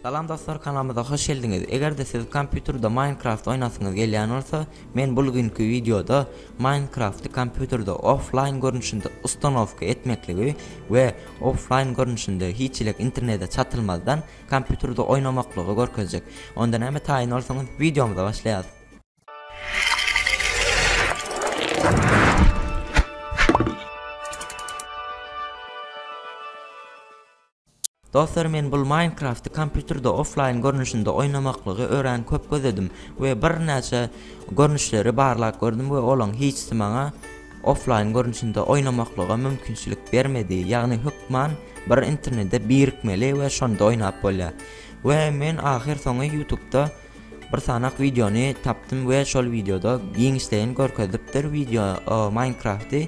Salam dostlar kanalymyza hoş geldiňiz egerde siz kompýuterde minecraft oýnasyňyz gelýän bolsa men bul günki wideoda minecrafty kompýuterde offline görnüşinde ustanowka etmekligi we offline görnüşinde hiç ilek internete çatylmazdan kompýuterde oýnamaklygy görkezjek onda näme taýyn bolsaňyz wideomyza başlaýas. Dostlar men bul Minecrafty kompýuterde offline görnüşinde oýnamaklygy örän köp gözledim we bir näçe görnüşleri barlap gördüm we olaň hiçsi maňa offline görnüşinde oýnamaklyga mümkinçilik bermedi ýagny hökman bir internede birikmeli we şonda oýnap bolýar we men ahyr soňy ýutubda bir sanak wideony tapdym we şol wideoda giňişleýin görkezilipdir wideo Minecrafty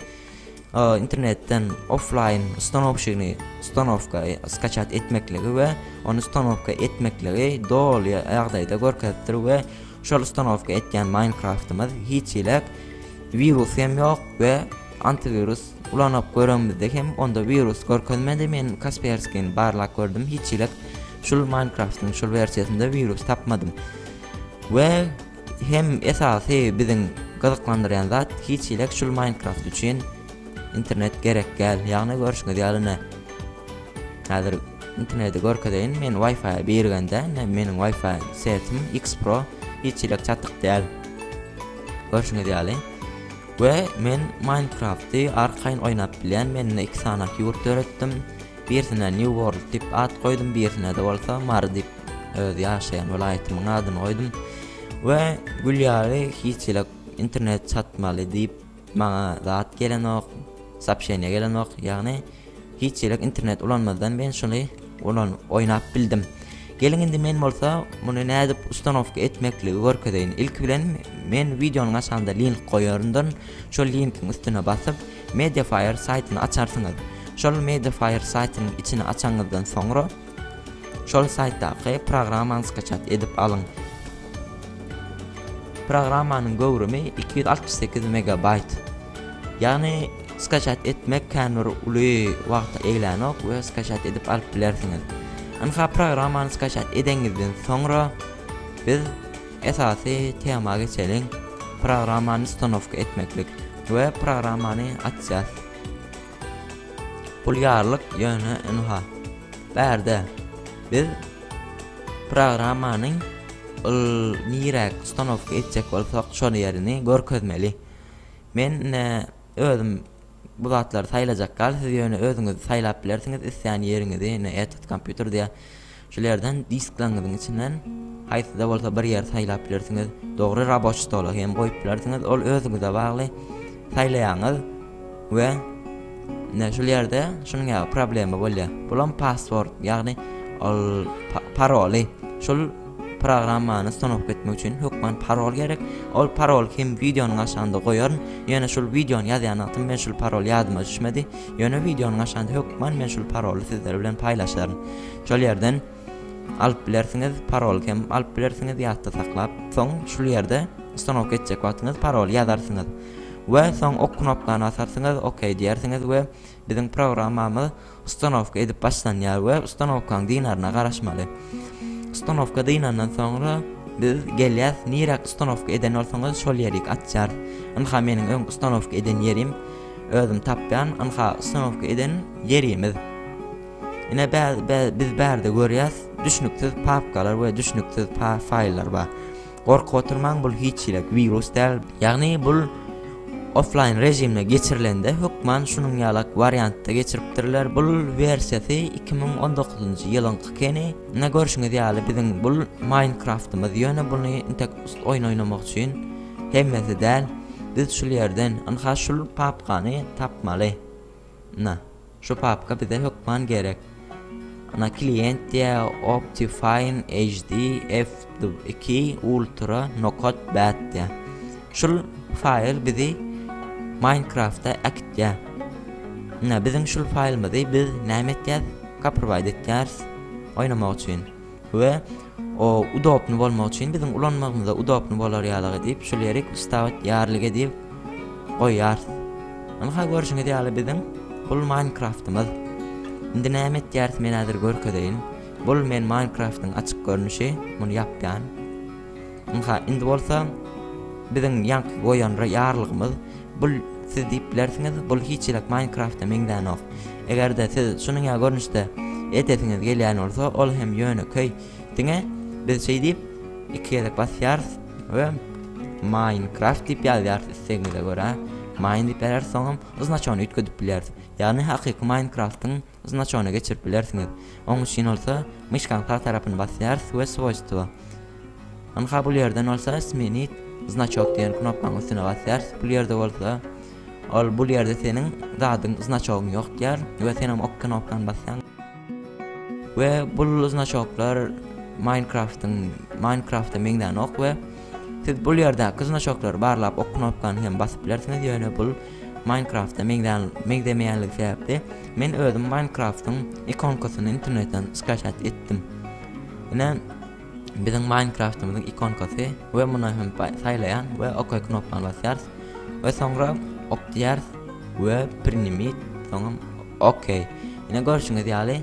internetden offlaýn ustanowşigini ustanowka skaçat etmekligi we ony ustanowka etmekligi doly ýagdaýda görkezipdir we şol ustanowka etýän Minecraftymyz hiç ilek wirus hem ýok we antiwirus ulanyp göremizde hem onda wirus görkezmedi men Kasperskin barlap gördüm hiç ilek şul Minecraftyň şul wersiýasynda wirus tapmadym we Hem esasy biziň gyzyklandyrýan zat hiç hili şul Minecraft üçin internet gerek däl. Ýagny görşüňiz ýaly ine häzir interneti görkezeýin men wifi birigende ine meniň wifi setim X Pro hiç hili çatyk däl. Görşüňiz ýaly we men Minecrafty arkaýyn oýnap bilýän men iki sany ýurt döretdim. Birisine New World diýip at goýdum, birisine-de bolsa Mary diýip öz ýaşaýan welaýatymyň adyny goýdum we gül ýaly hiç ýylak internet çatmaly diýip maňa zat gelenok sapşeniýa gelenok ýagny hiç ýylak internet ulanmazdan men şuny ulan oýnap bildim geliň indi men bolsa muny nädip ustanowka etmekligi görkezeýin ilki bilen men wideonyň aşagynda link goýaryndan şol linkiň üstüne basyp mediafire saýtyny açarsyňyz şol mediafire saýtynyň içini açanyňyzdan soňra Şol saýtdaky programmany skaçat edip alyň. Programmanyň göwrümi iki ýüz altmyş sekiz megabaýt. Ýagny skaçat etmek kän bir uly wagty eglänok we skaçat edip alyp bilersiňiz. Ynha programmany skaçat edeňizden soňra biz esasy tema geçeliň. Programmany ustanowka etmeklik we programmany açýas. Pulýarlyk ýöne ynha, bärde. Biz programmany yl niräk ustanowka etjek bolsak şol ýerini görkezmeli. Men ine özüm bu zatlary saýlajak gal siz ýöne özüňiz saýlap bilersiňiz isleýän ýeriňizi ine edit kompýuter diýä. Şul ýerden disklaryňyzyň içinden haýsyda bolsa bir ýeri saýlap bilersiňiz. Dogry raboçi stola hem goýup bilersiňiz, ol özüňize bagly. Saýlaýaňyz we ine şul ýerde şunuň ýaly problema bolýar. Bulam password, ýagny ol paroly. Şul programmany ustanowka etmek üçin hökman parol gerek. Ol parol hem wideonyň aşagynda goýaryn. Ýöne şul wideony ýazýan wagtym men şul parol ýadyma düşmedi. Ýöne wideonyň aşagynda hökman men şul paroly sizler bilen paýlaşaryn. Şol ýerden alyp bilersiňiz, paroly hem alyp bilersiňiz ýatda saklap. Soň şul ýerde ustanowka etjek wagtyňyz paroly ýazarsyňyz we soň ok knopkany basarsyňyz, ok diýersiňiz we biziň programmamyz ustanowka edip başlanýar we ustanowkaň dynaryna garaşmaly. Ustanowka dynandan soňra biz gelýäs, nirä ustanowka eden bolsaňyz şol ýerik açýar. Ynha meniň öň ustanowka eden ýerim özüm tapýan, ynha ustanowka eden ýerimiz. Ine biz bärde görýäs düşnüksiz papkalar we düşnüksiz faýllar bar. Gorkup oturmaň bul hiç ýelik wirus däl. Ýagny bul offline režimde geçirilende hökman şunuň ýalak wariantda geçiripdirler. Bul wersiýasy iki müň on dokuzynjy ýylyňky keni. Ine görşüňiz ýaly biziň bul Minecraftymyz ýöne buny intek oýun oýnamak üçin hemmesi däl. Biz şul ýerden ynha şul papkany tapmaly. Ina, şu papka bize hökman gerek. Ina klient diýä Optifine HD Fw iki Ultra Nokat Bat diýä. Şul faýl bizi Minecraftda äkitýä. Ina biziň şul faýlymyzy biz näme etýäs? Kaprwaýt etýäris oýnamak üçin. we o udobny bolmak üçin biziň ulanmagymyza udobny bolar ýalygy diýip şu lirik wstawit ýarlige diýip goýýarys. Ynha görşüňiz ýaly biziň bul Minecraftymyz. Indi näme etýäris men häzir görkezeýin. Bul men Minecraftyň açyk görnüşi, muny ýapýan. Ynha, indi bolsa biziň ýaňky goýan ýarlygymyz, bul siz diýip bilersiňiz, bul hiç ýylak Minecraft-a meňzänok. Eger-de siz şunuň ýaly görnüşde edesiňiz gelýän bolsa, ol hem ýönekeý. Diňe biz şeý diýip, iki gezek basýarys we Minecraft diýip ýazýarys islegiňize görä. Mine diýip ýazýarys, soňam znaçony üýtgedip bilýäris. Ýagny hakyky Minecraft-yň Znaçony geçirip bilersiňiz. Oň üçin bolsa myşkaň sag tarapyny basýarys we Swoýstwo. Ynha bul ýerden bolsa Smenit znaçok diýen knopkaň üstüne basýarys. Bul ýerde bolsa ol bul ýerde seniň zadyň znaçogyň ýok diýer we sen oň ok knopkany basýaň. We bul znaçoklar Minecraft-yň Minecraft-a meňzänok we Siz bul ýerdäki znaçoklary barlap ok knopkany hem basyp bilersiňiz ýöne bul Minecraft-a meňzemeýänligi sebäpli men özüm Minecraft-yň ikonkasyny internetden skaçat etdim. Ine biziň Minecraft-ymyzyň ikonkasy we muny hem saýlaýan we ok knopkany basýarys we soňra ok diýäris we prinimit soňam ok. Ine görşüňiz ýaly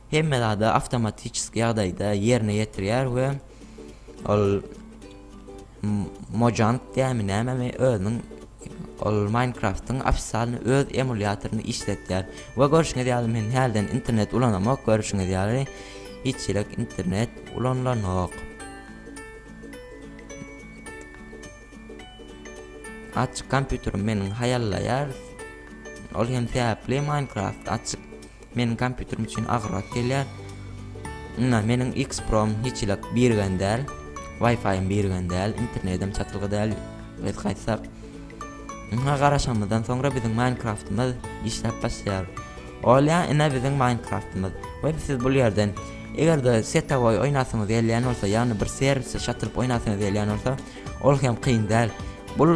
hemme zady awtomatiçeski ýagdaýda ýerine ýetirýär we ol Mojang diýýärmi nämemi özüniň ol Minecraft-yň ofissialny öz emulýatoryny işletýär. We görşüňiz ýaly men hälden internet ulanamok, görşüňiz ýaly hiç ýerek internet ulanylanok. Açyk kompýuterim meniň haýallaýar. Ol hem sebäpli Minecraft açyk Meniň kompýuterim üçin agyrrak gelýär. Ynha, meniň X-Pro-m hiç hili birgen däl. Wi-Fi-ýym birgen däl, internedim çatylgy däl. Biz gaýtsak, ynha garaşanymyzdan soňra biziň Minecraft-ymyz işläp başlaýar. Olýa, ine biziň Minecraft-ymyz. We siz bul ýerden, eger-de setawoý oýnasyňyz gelýän bolsa, ýagny bir serwise çatylyp oýnasyňyz gelýän bolsa, ol hem kyn däl. Bul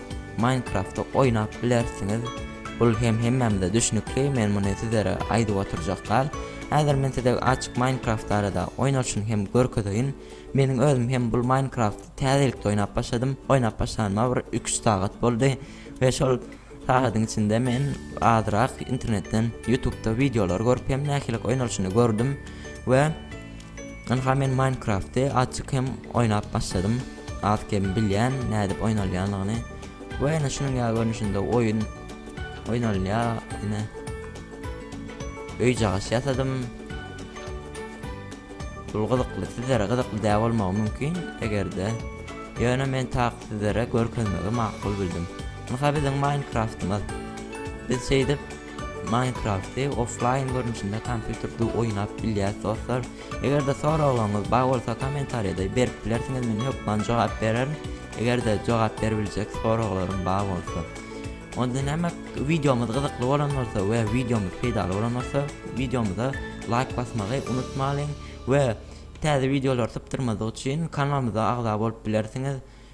Minecraft-y oýnap bilersiňiz. Bul hem hemmämize düşnükli, men muny sizlere aýdyp oturjak dal. Häzir men size açyk Minecraft barada oýnalşyny hem görkezeýin. Meniň özüm hem bul Minecraft-y täzelikde oýnap başladym. Oýnap başlanyma bir iki-üç sagat boldy we şol sagadyň içinde men azyrak internetden, youtube-da wideolar görüp hem nähililik oýnalşyny gördüm we Ynha men Minecrafty azjyk hem oýnap başladym. Az kem bilýän nädip oýnalýanlygyny. Bu ýene şunuň ýaly görnüşinde oýun oýnalýar. Ine. Öý jagaş ýasadym. Bul gyzykly, sizlere gyzykly däl bolmagy mümkin, eger-de ýöne men tak sizlere görkezmegi makul bildim. Ynha biziň Minecraftymyz. Biz şeýdip Minecrafty offline görnüşinde kompýuterde oýnap bilýäs dostlar. Eger-de soraglaryňyz bar bolsa kommentariýada berip bilersiňiz men hökman jogap bererin. Eger-de jogap beribiljek soraglaryň bar bolsa. Onda näme wideomyz gyzykly bolan bolsa we wideomyz peýdaly bolan bolsa wideomyza laýk basmagy unutmalyň we täze wideolar sypdyrmadyk üçin kanalymyza agza bolup bilersiňiz.